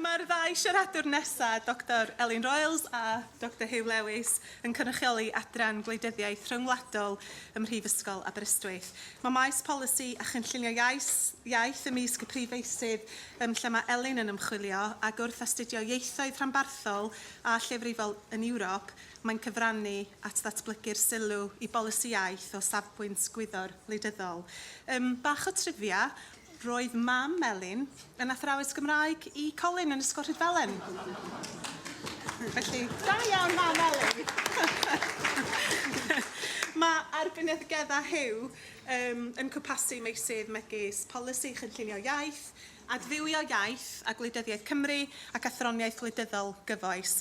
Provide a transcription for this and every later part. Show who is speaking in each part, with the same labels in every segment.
Speaker 1: Mae'r ddau siaradwr nesaf, Dr Elin Royals a Dr Huw Lewis, yn cynrychioli Adran Gwleidyddiaeth Rhyngwladol ym Mhrifysgol Aberystwyth. Mae maes polisi a chynllunio iaith, iaith ymysg y prif feysydd um, lle mae Elin yn ymchwilio, ac wrth astudio ieithoedd rhanbarthol a lleiafrifol yn Ewrop, Mae'n cyfrannu at ddatblygu'r sylw i bolisi iaith o safbwynt gwyddor wleidyddol. Yym, bach o trivia, roedd mam Melin yn athrawes Gymraeg i Colin yn Ysgol Rhydfelen. Felly, da iawn mam Melin! Mae arbenigedda Huw um, yn cwpasu meysydd megis polisi chynllunio iaith, adfywio iaith a gwleidyddiaeth Cymru ac athroniaeth wleidyddol gyfoes.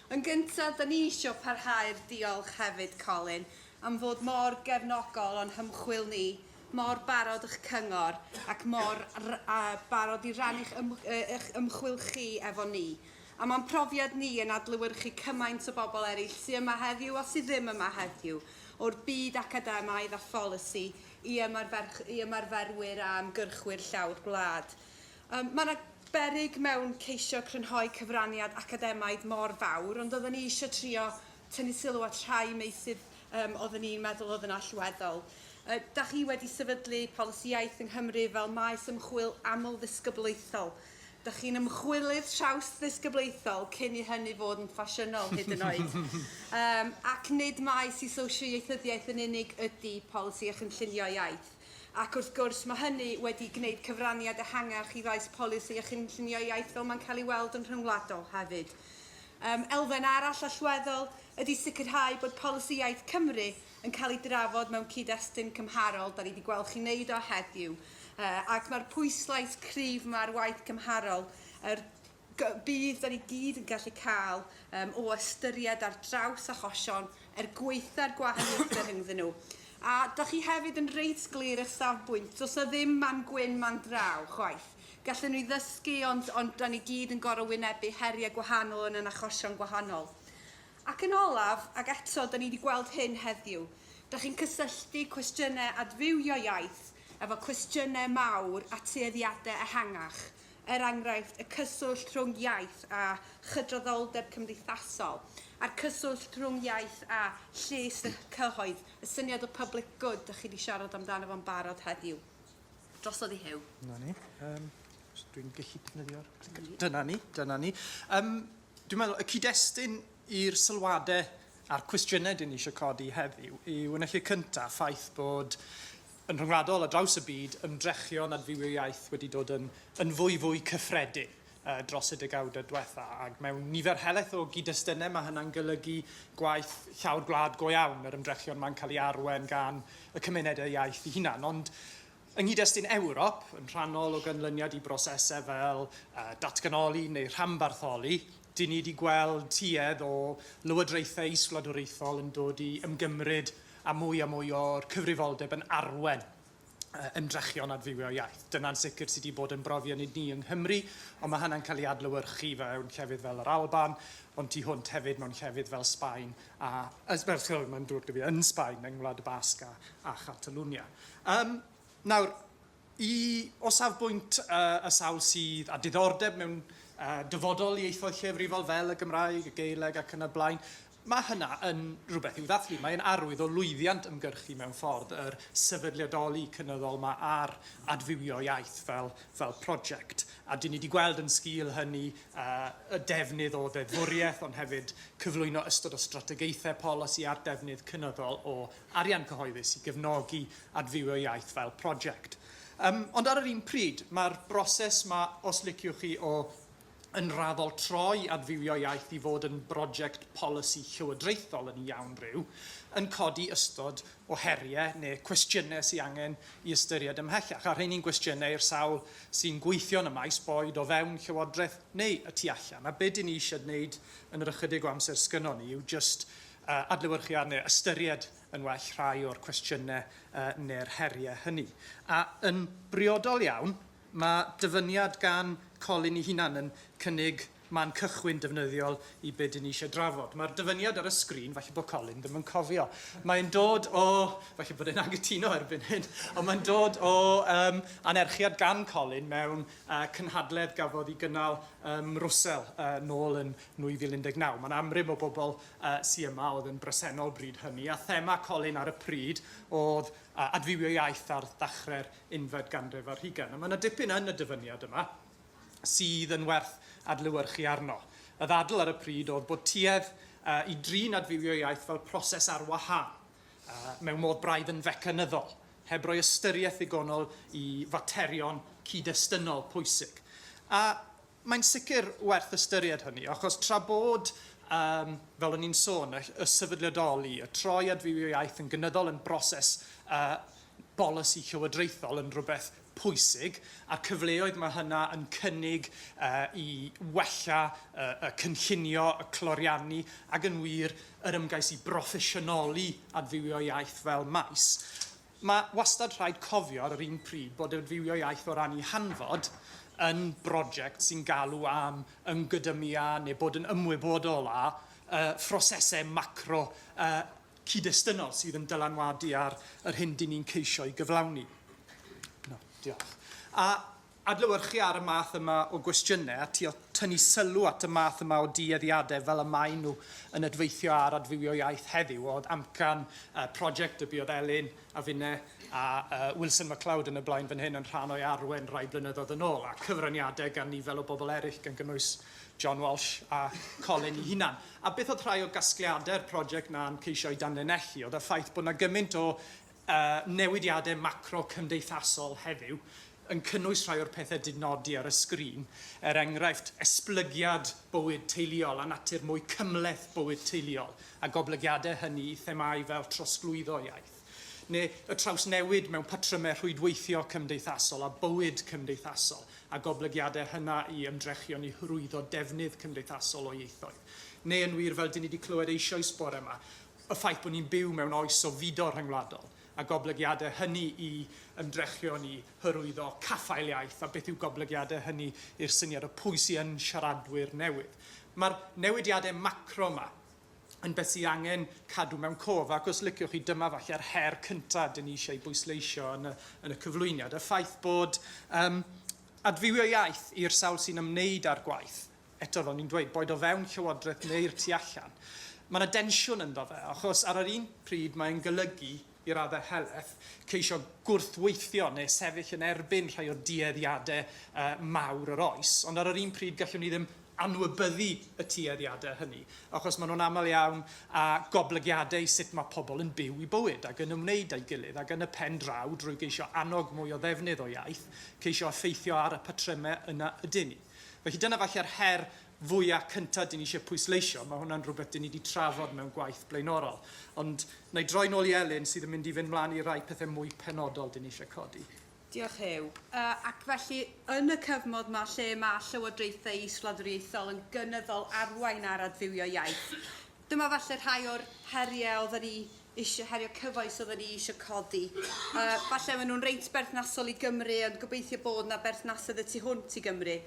Speaker 1: Yn gyntaf, 'da ni isio parhau'r diolch hefyd, Colin, am fod mor gefnogol o'n hymchwil ni, mor barod ych cyngor, ac mor barod i rannu'ch eich ymchwil chi efo ni. A mae'n profiad ni yn adlewyrchu cymaint o bobl eraill sy' yma heddiw a sy' ddim yma heddiw, o'r byd academaidd a pholisi i ymarferwyr a ymgyrchwyr llawr gwlad. Mae yna beryg mewn ceisio crynhoi cyfraniad academaidd mor fawr, ond oedden ni eisiau trio tynnu sylw at rhai meysydd um, oedden ni'n meddwl oedd yn allweddol. Uh, da chi wedi sefydlu polisi iaith yng Nghymru fel maes ymchwil aml-ddisgyblaethol. Da chi'n ymchwilydd traws-ddisgyblaethol cyn i hynny fod yn ffasiynol hyd yn oed. um, ac nid maes i sosio-ieithyddiaeth yn unig ydy polisi a chynllunio iaith. Ac wrth gwrs, mae hynny wedi gwneud cyfraniad ehangach i faes polisi a chynllunio iaith fel mae'n cael ei weld yn rhyngwladol hefyd. Um, elfen arall allweddol ydy sicrhau bod polisi iaith Cymru yn cael ei drafod mewn cyd-destun cymharol, da ni wedi gweld chi'n neud o heddiw, uh, ac mae'r pwyslais cryf yma ar waith cymharol, yr Gobeith da ni gyd yn gallu cael um, o ystyried ar draws achosion er gweitha'r gwahaniaethau rhyngddyn nhw. A da chi hefyd yn reit glir eich safbwynt, does na ddim man gwyn, man draw, chwaith. Gallen nhw ddysgu, ond, ond da ni gyd yn gorau wynebu heriau gwahanol yn yn achosion gwahanol. Ac yn olaf, ac eto, da ni wedi gweld hyn heddiw, da chi'n cysylltu cwestiynau adfywio iaith efo cwestiynau mawr a tueddiadau ehangach. er enghraifft, y cyswllt rhwng iaith a chydraddoldeb cymdeithasol, a'r cyswllt rhwng iaith a lles y cyhoedd, y syniad o public good dach chi wedi siarad amdano fo'n barod heddiw. Drosodd i Huw. Na ni. Um, dwi'n gallu defnyddio'r clicker. Dyna ni, dyna ni. Um, dwi'n meddwl, y cyd-destun i'r sylwadau a'r cwestiynau dyn ni eisiau codi heddiw yw yn y lle cyntaf ffaith bod Yn rhyngwladol, ar draws y byd, ymdrechion at fyw i'r iaith wedi dod yn yn fwy fwy cyffredin dros y degawdau diwetha', ac mewn nifer helaeth o gyd-destunau mae hynna'n golygu gwaith llawr gwlad go iawn, yr ymdrechion 'ma'n cael ei arwain gan y cymunedau iaith ei hunan. Ond yng nghyd-destun Ewrop, yn rhannol o ganlyniad i brosesau fel datganoli neu rhanbartholi, dyn ni wedi gweld tuedd o lywodraethau is-wladwriaethol yn dod i ymgymryd a mwy a mwy o'r cyfrifoldeb yn arwain ymdrechion adfywio iaith. Dyna'n sicr sydd wedi bod yn brofiad nid ni yng Nghymru, ond mae hynna'n cael ei adlewyrchu mewn llefydd fel yr Alban, ond tu hwnt hefyd mewn llefydd fel Sbaen a, sori, mae'n drwg 'da fi, yn Sbaen, yng Ngwlad y Basg a Chatalwnia. Nawr, I, O safbwynt y sawl sydd â diddordeb mewn dyfodol ieithoedd lleiafrifol fel y Gymraeg, y Gaeleg ac yn y blaen, mae hynna yn rhywbeth i'w ddathlu. Mae'n arwydd o lwyddiant ymgyrchu mewn ffordd, yr sefydliadoli cynyddol yma ar adfywio iaith fel, fel prosiect. A dyn ni wedi gweld yn sgil hynny y defnydd o ddeddfwriaeth ond hefyd cyflwyno ystod o strategaethau polisi a'r defnydd cynyddol o arian cyhoeddus i gefnogi adfywio iaith fel prosiect. Yym, ond ar yr un pryd, mae'r broses 'ma, os liciwch chi, o yn raddol troi adfywio iaith i fod yn brosiect polisi llywodraethol yn iawn ryw, yn codi ystod o heriau neu cwestiynau sy angen i ystyried ymhellach, a rheini'n gwestiynau i'r sawl sy'n gweithio yn y maes, boed o fewn Llywodraeth neu y tu allan. A be dyn ni eisiau gwneud yn yr ychydig o amser sgynnon ni yw jyst adlewyrchu arni a ystyried yn well rhai o'r cwestiynau neu'r heriau hynny. A yn briodol iawn, mae dyfyniad gan Colin ei hunan yn cynnig man cychwyn defnyddiol i be dŷn ni eisiau drafod. Mae'r dyfyniad ar y sgrin, falle bod Colin ddim yn cofio, mae'n dod o, falle bod e'n angytuno erbyn hyn, ond mae'n dod o um, anerchiad gan Colin mewn uh, cynhadledd gafodd i gynnal ym Mrwsel uh, nôl yn 2019. Mae'n amrym o bobl sy yma oedd yn bresennol bryd hynny, a thema Colin ar y pryd oedd adfywio iaith ar ddechrau'r unfed ganrif ar hugain. A mae yna dipyn yn y dyfyniad yma sydd yn werth adlewyrchu arno. Y ddadl ar y pryd oedd bod tuedd i drin adfywio iaith fel proses ar wahân, mewn modd braidd yn fecanyddol, heb roi ystyriaeth ddigonol i faterion cyd-destynol pwysig. A Mae'n sicr werth ystyried hynny, achos tra bod, yym, fel o'n i'n sôn, y y sefydliadoli, y troi at fyw i'r iaith yn gynyddol yn broses yy bolisi llywodraethol yn rhywbeth pwysig, a'r cyfleoedd mae hynna yn cynnig yy i wella y y cynllunio, y cloriannu, ac yn wir, yr ymgais i broffesiynoli adfywio iaith fel maes, Mae wastad rhaid cofio ar yr un pryd bod adfywio iaith o ran ei hanfod yn broject sy'n galw am ymgydymu â, neu bod yn ymwybodol â, phrosesau macro a chyd-destunol sydd yn dylanwadu ar yr hyn dŷn ni'n ceisio'i gyflawni. Diolch. A. Adlewyrchu ar y math yma o gwestiynau a trio tynnu sylw at y math yma o dueddiadau fel y maen nhw yn adweithio ar adfywio iaith heddiw oedd amcan y prosiect a buodd Elin a finne a Wilson McLeod yn y blaen fan hyn yn rhan o'i arwain rai blynyddoedd yn ôl, a cyfraniadau gan nifer o bobl eraill gan gynnwys John Walsh a Colin ei hunan. A beth oedd rhai o gasgliadau'r prosiect na'n ceisio eu danlinellu oedd y ffaith bod 'na gymaint o y newidiadau macro cymdeithasol heddiw yn cynnwys rhai o'r pethau dŷn nodi ar y sgrin, er enghraifft, esblygiad bywyd teuluol a natur mwy cymhleth bywyd teuluol, a goblygiadau hynny i themâu fel trosglwyddo iaith, neu y trawsnewid mewn patrymau rhwydweithio cymdeithasol a bywyd cymdeithasol, a goblygiadau hynna i ymdrechion i hyrwyddo defnydd cymdeithasol o ieithoedd, neu yn wir, fel dŷn ni wedi clywed eisoes bore yma, Y ffaith bod ni'n byw mewn oes o fudo rhyngwladol a goblygiadau hynny i ymdrechion i hyrwyddo caffael iaith a beth yw goblygiadau hynny i'r syniad o pwy sy yn siaradwyr newydd. Mae'r newidiadau macro yma yn beth sydd angen cadw mewn cof ac os liciwch chi dyma falle'r her cyntaf dyn ni eisiau ei bwysleisio yn y, yn y cyflwyniad, y ffaith bod um, adfywio iaith i'r sawl sy'n ymwneud â'r gwaith eto fel ni'n dweud, boed o fewn Llywodraeth neu'r tu allan, mae yna densiwn ynddo fe, achos ar yr un pryd mae'n golygu, i raddau helaeth, ceisio gwrthweithio neu sefyll yn erbyn rhai o dueddiadau mawr yr oes, ond ar yr un pryd gallwn ni ddim anwybyddu y tueddiadau hynny, achos maen nhw'n aml iawn â goblygiadau i sut mae pobl yn byw eu bywyd ac yn ymwneud â'i gilydd, ac yn y pen draw, drwy geisio annog mwy o ddefnydd o iaith, ceisio effeithio ar y patrymau yna ydyn ni. Felly dyna falle'r her fwya' cynta' dyn ni isie pwysleisio. Ma' hwnna'n rhywbeth dyn ni 'di trafod mewn gwaith blaenorol. Ond 'na i droi nôl i Elin sydd yn mynd i fynd mlan i rai pethe mwy penodol dyn ni isie codi. Diolch Huw. Yy ac felly yn y cyfmod 'ma lle ma' llywodraethau is-wladwriaethol yn gynyddol arwain ar adfywio iaith, Dyma falle rhai o'r heriau oedden ni eisiau, heriau cyfoes oedden ni eisiau codi. A falle maen nhw'n reit berthnasol i Gymru, ond gobeithio bod yna berthnasedd y tu hwnt i Gymru.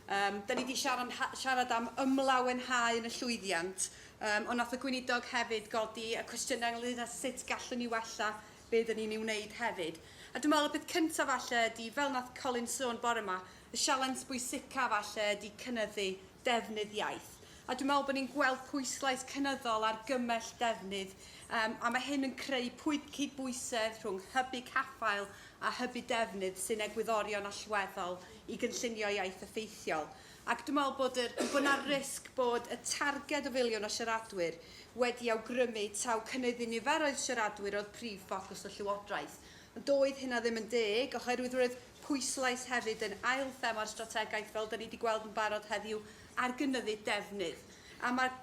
Speaker 1: Um, da ni wedi siarad, siarad am ymlawenhau yn y llwyddiant, um, ond nath y gweinidog hefyd godi y cwestiynau ynglyn â sut gallwn ni wella be da ni'n ei wneud hefyd. A dwi'n meddwl y peth cyntaf falle ydy, fel nath Colin sôn bore yma, y sialens bwysica falle ydy cynyddu defnydd iaith. A dwi'n meddwl bod ni'n gweld pwyslais cynyddol ar gymell defnydd, um, a mae hyn yn creu pwyd cydbwysedd rhwng hybu caffael a hybu defnydd sy'n egwyddorion allweddol i gynllunio iaith effeithiol. Ac dwi'n meddwl bod yr, bod yna risg bod y targed o filiwn o siaradwyr wedi awgrymu taw cynyddu niferoedd siaradwyr oedd prif ffocws y Llywodraeth. Ond doedd hynna ddim yn deg, oherwydd roedd pwyslais hefyd yn ail thema'r strategaeth fel da ni wedi gweld yn barod heddiw ar gynyddu defnydd, a mae'r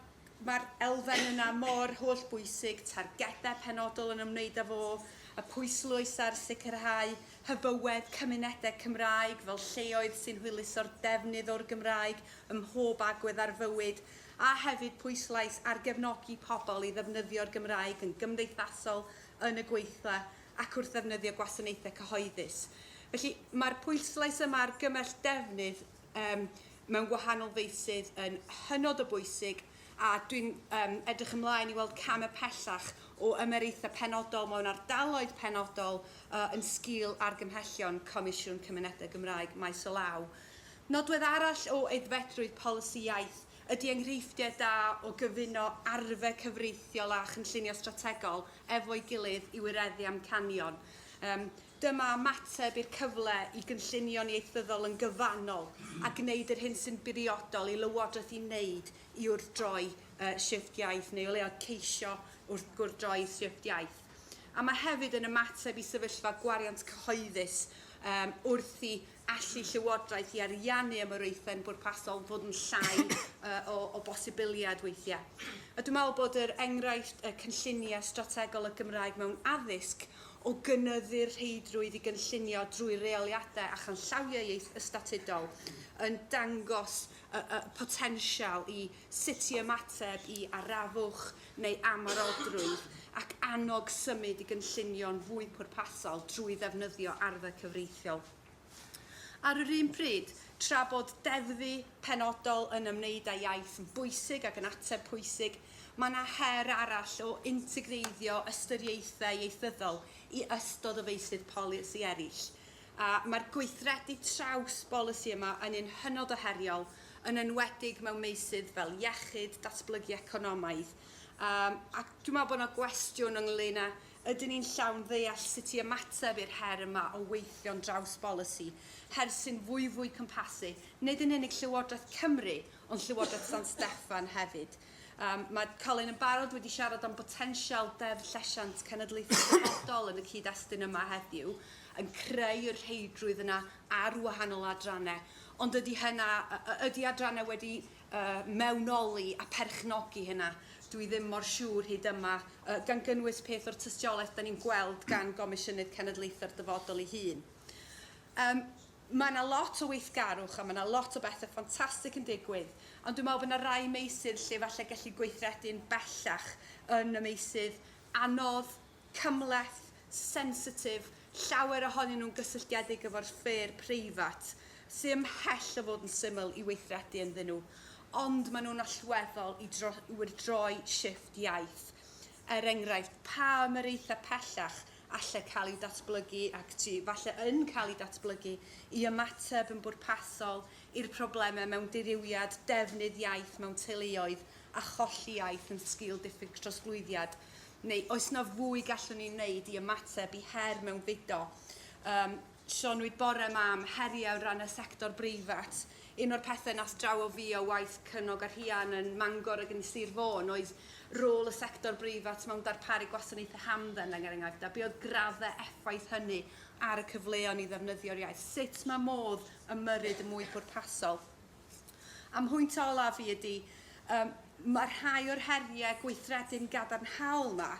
Speaker 1: mae'r elfen yna mor holl bwysig, targedau penodol yn ymwneud â fo, y pwyslwys ar sicrhau hyfywedd cymunedau Cymraeg fel lleoedd sy'n hwyluso'r defnydd o'r Gymraeg ym mhob agwedd ar fywyd, a hefyd pwyslais ar gefnogi pobl i ddefnyddio'r Gymraeg yn gymdeithasol, yn y gweithle ac wrth ddefnyddio gwasanaethau cyhoeddus. Felly, mae'r pwyslais yma ar gymell defnydd yym mewn gwahanol feysydd yn hynod o bwysig a dwi'n um, edrych ymlaen i weld cam y pellach o ymyraethau penodol mewn ardaloedd penodol uh, yn sgil argymhellion Comisiwn Cymunedau Gymraeg maes o law. Nodwedd arall o aeddfedrwydd polisi iaith ydy enghreifftiau da o gyfuno arfer cyfreithiol a chynllunio strategol efo'i gilydd i wireddu amcanion. Um, Dyma ymateb i'r cyfle i gynllunio'n ieithyddol yn gyfannol a gwneud yr hyn sy'n bwriadol i Lywodraeth i wneud i wrthdroi yy shifft iaith, neu o leiaf ceisio wrth gwrddroi shifft iaith. A mae hefyd yn ymateb i sefyllfa gwariant cyhoeddus yym wrth i allu Llywodraeth i ariannu ymyraethau'n bwrpasol fod yn llai o, o bosibiliad weithiau. A dwi'n meddwl bod yr enghraifft y cynlluniau strategol y Gymraeg mewn addysg o gynyddu'r rheidrwydd i gynllunio drwy reoliadau a chanllawiau ieithystatudol yn dangos y, y potensial i sut i ymateb i arafwch neu amharodrwydd ac annog symud i gynllunio'n fwy pwrpasol drwy ddefnyddio arfer cyfreithiol. Ar yr un pryd, tra bod deddfu penodol yn ymwneud â iaith yn bwysig ac yn ateb pwysig, mae yna her arall o integreiddio ystyriaethau ieithyddol i ystod o feysydd polisi eraill, a mae'r gweithredu traws bolisi yma yn un hynod o heriol yn enwedig mewn meysydd fel iechyd, datblygu economaidd, yym ac dwi'n meddwl bod yna gwestiwn ynglŷn â ydyn ni'n llawn ddeall sut i ymateb i'r her yma o weithio'n draws bolisi, her sy'n fwy fwy cwmpasu, nid yn unig Llywodraeth Cymru, ond Llywodraeth San Steffan hefyd. Um, mae Colin yn barod wedi siarad am botensial deddf llesiant cenedlaethol dyfodol yn y cyd-destun yma heddiw, yn creu yr rheidrwydd yna ar wahanol adrannau, Ond ydy hynna, ydy adrannau wedi mewnoli a perchnogi hynna? Dwi ddim mor siŵr hyd yma, gan gynnwys peth o'r tystiolaeth da ni'n gweld gan Gomisiynydd Cenedlaethau'r Dyfodol ei hun. Yym, mae yna lot o weithgarwch a mae yna lot o bethau ffantastig yn digwydd, ond dwi'n meddwl bod yna rai meysydd lle falle gelli gweithredu'n bellach yn y meysydd anodd, cymhleth, sensitif, llawer ohonyn nhw'n gysylltiedig efo'r sffêr preifat, sy ymhell o fod yn syml i weithredu ynddyn nhw, ond maen nhw'n allweddol i wyrdroi shifft iaith. Er enghraifft, pa ymyraethau pellach allai cael eu datblygu ac sy falle yn cael eu datblygu i ymateb yn bwrpasol i'r problemau mewn dirywiad defnydd iaith mewn teuluoedd a cholli iaith yn sgil diffyg trosglwyddiad, neu oes 'na fwy gallwn ni wneud i ymateb i her mewnfudo? Um, sioniwyd bore ma am heriau ran y sector breifat. Un o'r pethau nas draw o fi o waith cynog a rhian yn Mangor ac yn Sir Fôn oedd rôl y sector breifat mewn darparu gwasanaethau hamdden yn enghraifft a be oedd graddau effaith hynny ar y cyfleon i ddefnyddio'r iaith. Sut mae modd ymyrryd yn mwy pwrpasol? A mhwynt olaf i ydy, yym, ma' rhai o'r herie gweithredu'n gadarnhaol 'ma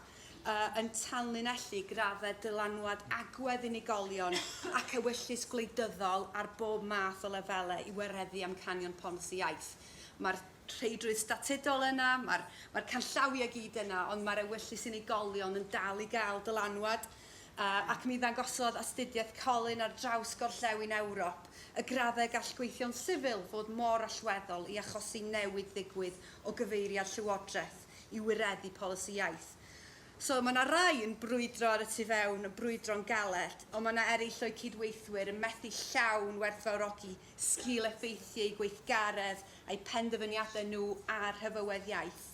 Speaker 1: yy yn tanlinellu graddau dylanwad agwedd unigolion ac ewyllys gwleidyddol ar bob math o lefelau i wareddu amcanion polisi iaith. Ma'r rheidrwydd statudol yna, ma'r ma'r canllawiau gyd yna, ond ma'r ewyllys unigolion yn dal i gael dylanwad. ac mi ddangosodd astudiaeth Colin ar draws gorllewin Ewrop y graddau gall gweithio'n sifil fod mor allweddol i achosi newid ddigwydd o gyfeiriad llywodraeth i wireddu polisi iaith. So, mae yna rai yn brwydro ar y tu fewn, yn brwydro'n galed, ond mae yna eraill o'u cydweithwyr yn methu llawn werthfawrogi sgil-effeithiau eu gweithgaredd, eu penderfyniadau nhw a'r hyfywedd iaith.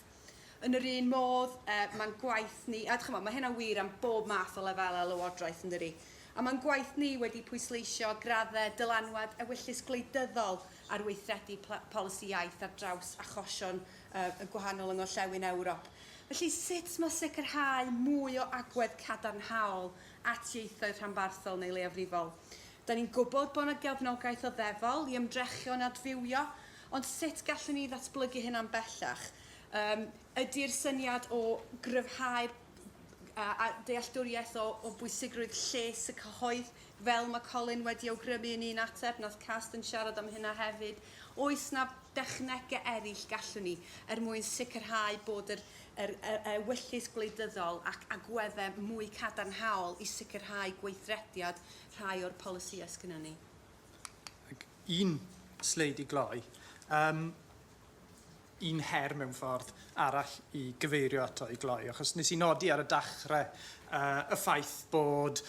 Speaker 1: Yn yr un modd, uh, mae'n gwaith ni, a chymod, mae hynna'n wir am bob math o lefelau lywodraeth yn dyri, a mae'n gwaith ni wedi pwysleisio graddau dylanwad ewyllys gwleidyddol ar weithredu polisi iaith ar draws achosion uh, y gwahanol yng Ngorllewin Ewrop. Felly, sut mae sicrhau mwy o agwedd cadarnhaol at ieithoedd rhanbarthol neu leiafrifol? Da ni'n gwybod bod yna gefnogaeth o ddefol i ymdrechion adfywio Ond sut gallwn ni ddatblygu hyn am bellach? Yym, ydi'r syniad o gryfhau'r a dealltwriaeth o, o bwysigrwydd lles y cyhoedd, fel mae Colin wedi awgrymu yn un ateb, nath Cast yn siarad am hynna hefyd. Oes na dechnegau eraill gallwn ni er mwyn sicrhau bod yr, yr, y, y wyllys gwleidyddol ac agweddau mwy cadarnhaol i sicrhau gweithrediad rhai o'r polisïau sgynnon ni? Un sleid i gloi. Yym un her mewn ffordd arall i gyfeirio ato i gloi, achos nes i nodi ar y dachrau uh, y ffaith bod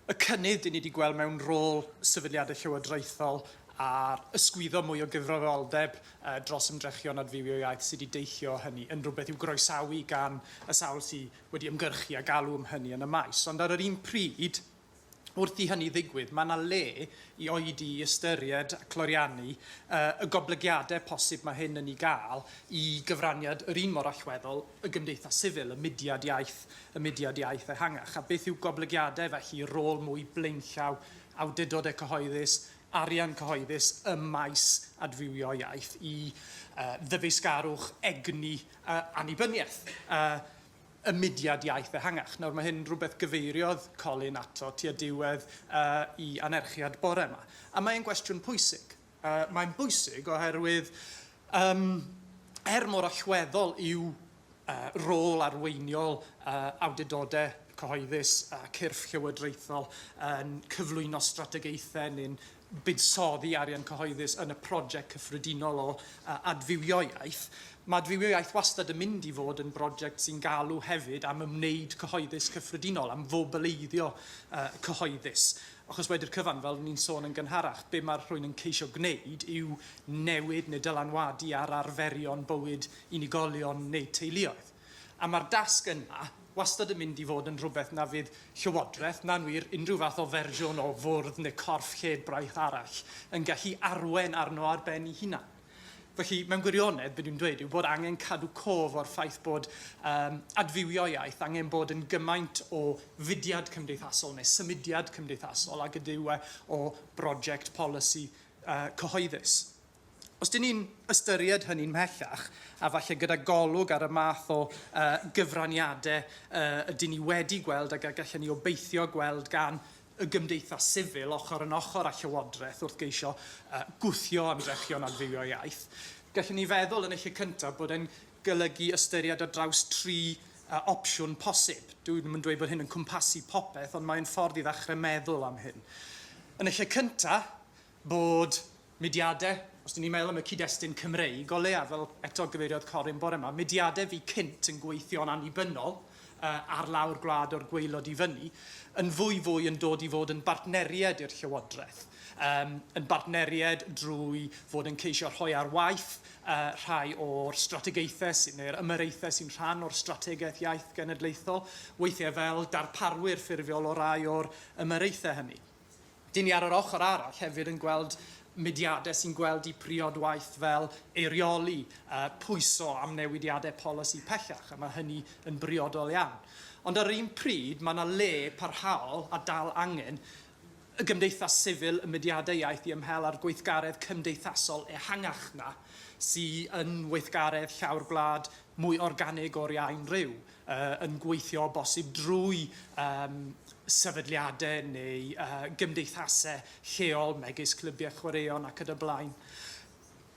Speaker 1: y cynnydd dyn ni wedi gweld mewn rôl sefydliadau llywodraethol a'r ysgwyddo mwy o gyfrifoldeb uh, dros ymdrechion adfywio iaith sydd wedi deillio hynny yn rhywbeth i'w groesawu gan y sawl sydd wedi ymgyrchu a galw am hynny yn y maes. Ond ar yr un pryd, wrth i hynny ddigwydd, mae yna le i oedi i ystyried a cloriannu y goblygiadau posib mae hyn yn ei gael i gyfraniad yr un mor allweddol y gymdeithas sifil, y mudiad iaith, y mudiad iaith ehangach. A beth yw goblygiadau felly i rôl mwy blaenllaw awdurdodau cyhoeddus, arian cyhoeddus ym maes adfywio iaith, i ddyfeisgarwch egni annibyniaeth? y mudiad iaith ehangach. Nawr, mae hyn rhywbeth gyfeiriodd Colin ato tua diwedd uh, i anerchiad bore yma. A mae'n gwestiwn pwysig. Uh, mae'n bwysig oherwydd, um, er mor allweddol yw uh, rôl arweiniol uh, awdurdodau cyhoeddus a cyrff llywodraethol yn cyflwyno strategaethau neu'n buddsoddi arian cyhoeddus yn y project cyffredinol o adfywio iaith. Mae adfywio iaith wastad yn mynd i fod yn broject sy'n galw hefyd am ymwneud cyhoeddus cyffredinol, am fobeleiddio uh, cyhoeddus. Achos wedi'r cyfan, fel ni'n sôn yn gynharach, be mae'r rhywun yn ceisio gwneud yw newid neu dylanwadu ar arferion bywyd unigolion neu teuluoedd. A mae'r dasg yna wastad yn mynd i fod yn rhywbeth na fydd Llywodraeth, na'n wir, unrhyw fath o fersiwn o fwrdd neu corff lled braich arall, yn gallu arwain arno ar ben ei hunan. Felly, mewn gwirionedd, be dwi'n dweud yw bod angen cadw cof o'r ffaith bod um, adfywio iaith angen bod yn gymaint o fudiad cymdeithasol neu symudiad cymdeithasol ag ydyw e o brosiect polisi uh, cyhoeddus. Os dyn ni'n ystyried hynny'n mhellach, a falle gyda golwg ar y math o uh, gyfraniadau uh, ydyn ni wedi gweld ac a gallen ni obeithio gweld gan y gymdeithas sifil ochr yn ochr â llywodraeth wrth geisio uh, gwthio ymdrechion adfywio iaith. Gallwn ni feddwl yn y lle cyntaf bod e'n golygu ystyried ar draws tri uh, opsiwn posib. Dwi ddim yn dweud bod hyn yn cwmpasu popeth, ond mae'n ffordd i ddechrau meddwl am hyn. Yn y lle cyntaf, bod mudiadau, os dyn ni'n meddwl am y cyd-destun Cymreig o leiaf, fel eto gyfeiriodd Corin bore yma, mudiadau fu cynt yn gweithio'n annibynnol ar lawr gwlad o'r gwaelod i fyny, yn fwy fwy yn dod i fod yn bartneriaid i'r Llywodraeth, yn bartneriaid drwy fod yn ceisio rhoi ar waith rhai o'r strategaethau neu'r ymyraethau sy'n rhan o'r Strategaeth Iaith Genedlaethol, weithiau fel darparwyr ffurfiol o rai o'r ymyraethau hynny. Dyn ni ar yr ochr arall hefyd yn gweld mudiadau sy'n gweld eu priod waith fel eirioli a pwyso am newidiadau polisi pellach, a mae hynny yn briodol iawn. Ond ar yr un pryd, mae yna le parhaol, a dal angen, y gymdeithas sifil, y mudiadau iaith i ymhel â'r gweithgaredd cymdeithasol ehangach 'na sy yn weithgaredd llawr gwlad mwy organig o'r iau'n rhyw. yn gweithio o bosib drwy um, sefydliadau neu uh, gymdeithasau lleol megis clybiau chwaraeon ac yn y blaen.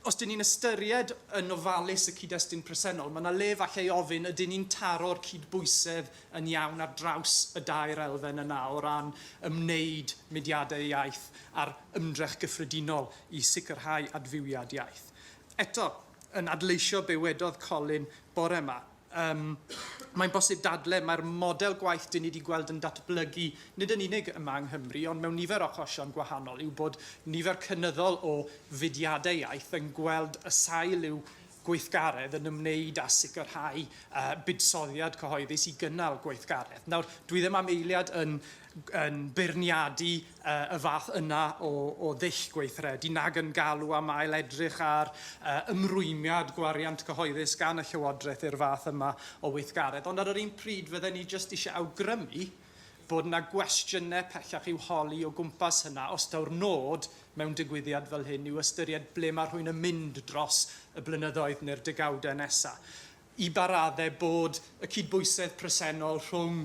Speaker 1: Os dyn ni'n ystyried yn ofalus y cyd-destun presennol, mae yna le falle i ofyn ydyn ni'n taro'r cydbwysedd yn iawn ar draws y dair elfen yna o ran ymwneud mudiadau iaith a'r ymdrech gyffredinol i sicrhau adfywiad iaith. Eto, yn adleisio be wedodd Colin bore yma, Yym, mae'n bosib dadle, mae'r model gwaith dyn ni wedi gweld yn datblygu, nid yn unig yma yng Nghymru, ond mewn nifer o achosion gwahanol, yw bod nifer cynyddol o fudiadau iaith yn gweld y sail i'w gweithgaredd yn ymwneud â sicrhau yy buddsoddiad cyhoeddus i gynnal gweithgaredd. Nawr, dwi ddim am eiliad yn yn beirniadu y fath yna o ddull gweithredu nag yn galw am ail-edrych ar ymrwymiad gwariant cyhoeddus gan y Llywodraeth i'r fath yma o weithgaredd. Ond ar yr un pryd, fydden ni jyst eisiau awgrymu bod yna gwestiynau pellach i'w holi o gwmpas hynna os taw'r nod mewn digwyddiad fel hyn yw ystyried ble mae rhywun yn mynd dros y blynyddoedd neu'r degawdau nesaf. i ba raddau bod y cydbwysedd presennol rhwng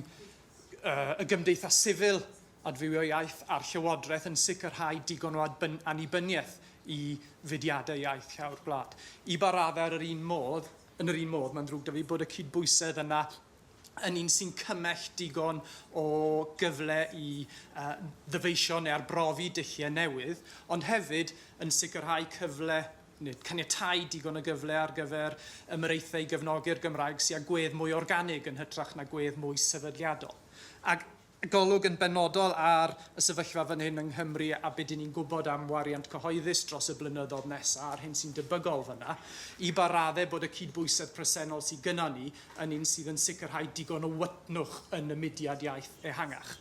Speaker 1: y gymdeithas sifil, adfywio iaith, a'r llywodraeth yn sicrhau digon o annibyniaeth i fudiadau iaith llawr gwlad. I ba raddau ar yr un modd, yn yr un modd, mae'n ddrwg 'da fi bod y cydbwysedd yna yn un sy'n cymell digon o gyfle i ddyfeisio neu arbrofi dulliau newydd, ond hefyd yn sicrhau cyfle nid caniatáu digon o gyfle ar gyfer ymyraethau i gefnogi'r Gymraeg sy â gwedd mwy organig yn hytrach na gwedd mwy sefydliadol. Ac golwg yn benodol ar y sefyllfa fan hyn yng Nghymru a be dyn ni'n gwybod am wariant cyhoeddus dros y blynyddoedd nesaf a'r hyn sy'n debygol fan'na, i ba raddau bod y cydbwysedd presennol sydd gynnon ni yn un sydd yn sicrhau digon o wytnwch yn y mudiad iaith ehangach.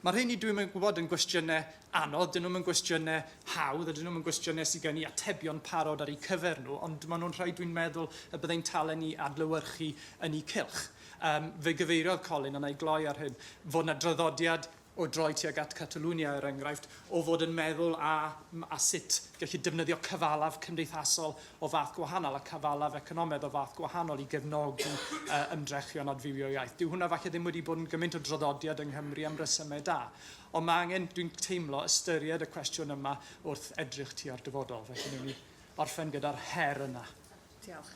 Speaker 1: Mae'r rheini, dwi'm yn gwybod, yn gwestiynau anodd, dyn nhw'm yn gwestiynau hawdd a dyn nhw'm yn gwestiynau sydd gen i atebion parod ar eu cyfer nhw, ond maen nhw'n rhai dwi'n meddwl y byddai'n talen ni adlewyrchu yn eu cylch. Yym, fe gyfeiriodd Colin, a na i gloi ar hyn, fod yna draddodiad o droi tuag at Catalunya, er enghraifft, o fod yn meddwl a, a sut gallu defnyddio cyfalaf cymdeithasol o fath gwahanol a cyfalaf economaidd o fath gwahanol i gefnogi uh, ymdrechion adfywio iaith. Dyw hwnna falle ddim wedi bod yn gymaint o draddodiad yng Nghymru am resymau da. Ond mae angen, dwi'n teimlo, ystyried y cwestiwn yma wrth edrych tua'r dyfodol. Felly newn ni orffen gyda'r her yna. Diolch.